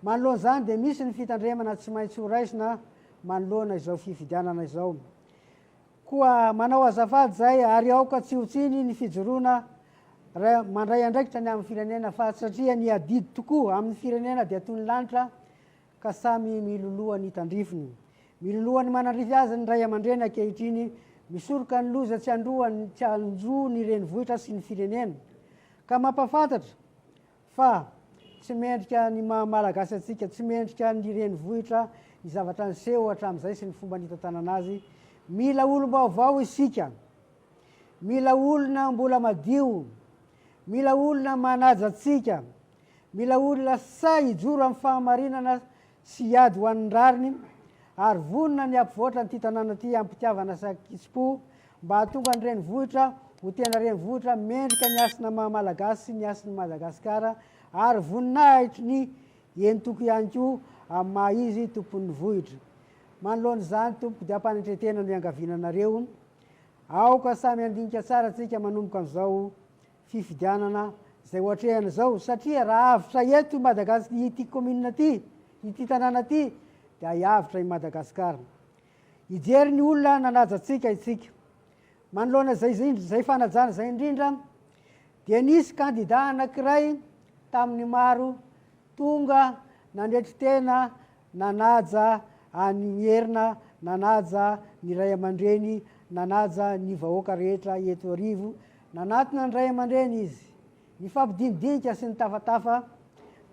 Manoloana izany dia misy ny fitandremana tsy maintsy ho raisina manoloana izao fifidianana izao. Koa manao azafady izay ary aoka tsy ho tsiny ny fijoroana mandray andraikitra ny amin'ny firenena fa satria ny adidy tokoa amin'ny firenena dia toy ny lanitra ka samy miloloha ny tandrifiny. Miloloha ny manandrify azy ny ray aman-dreny ankehitriny, misoroka ny loza tsy androany tsy androa ny renivohitra sy ny firenena. Ka mampafantatra Fa tsy mendrika ny maha Malagasy antsika, tsy mendrika ny renivohitra ny zavatra niseho hatramin'izay sy ny fomba nitantanana azy. Mila olom-baovao isika. Mila olona mbola madio. Mila olona manaja antsika. Mila olona sahy hijoro amin'ny fahamarinana sy hiady ho an'ny rariny ary vonona ny hampivoatra an'ity tanàna ity am-pitiavana sy an-kitsim-po mba hahatonga ny renivohitra ho tena renivohitra mendrika ny hasin'ny maha Malagasy sy ny hasin'i Madagasikara ary voninahitry ny entoko ihany koa amin'ny maha izy tompon'ny vohitra. Manoloana izany tompoko dia ampanantretena no iangaviana anareo. Aoka samy handinika tsara tsika manomboka amin'izao fifidianana izay ohatrehana izao satria raha avotra eto i Madagas ity commune ity ity tanàna ity dia hiavotra i Madagascar hijery ny olona nanaja antsika itsika manoloana izay izay fanajana izay indrindra dia nisy kandida anankiray tamin'ny maro tonga nandretry tena Nanaja an'i Mierina, nanaja ny ray aman-dreny, nanaja ny vahoaka rehetra eto Iarivo. Nanatona ny ray aman-dreny izy, nifampidinidinika sy nitafatafa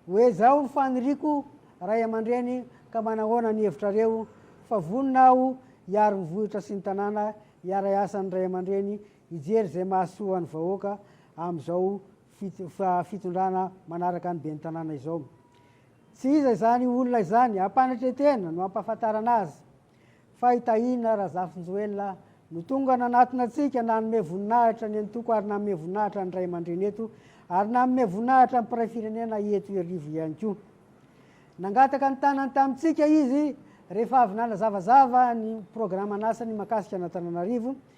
hoe zao ny faniriako ray aman-dreny ka manahoana ny hevitrareo fa vonona aho hiaro ny vohitra sy ny tanàna hiara-hiasa ny ray aman-dreny hijery izay mahasoa ny vahoaka amin'izao fitondrana manaraka ny ben'ny tanàna izao. Tsy iza izany olona izany ampanetretena no ampahafantarana azy fa i Tahina Razafinjoelina no tonga nanatona antsika nanome voninahitra ny antoko ary nanome voninahitra ny ray aman-dreny eto ary nanome voninahitra ny mpiray firenena eto Iarivo ihany koa. Nangataka ny tanany tamintsika izy rehefa avy nanazavazava ny programan'asany makasika an'Antananarivo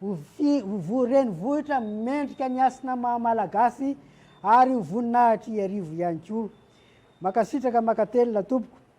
Ho vi, ho voa renivohitra mendrika ny hasina maha Malagasy ary ho voninahitr' Iarivo ihany koa. Makasitraka makatelina tompoko.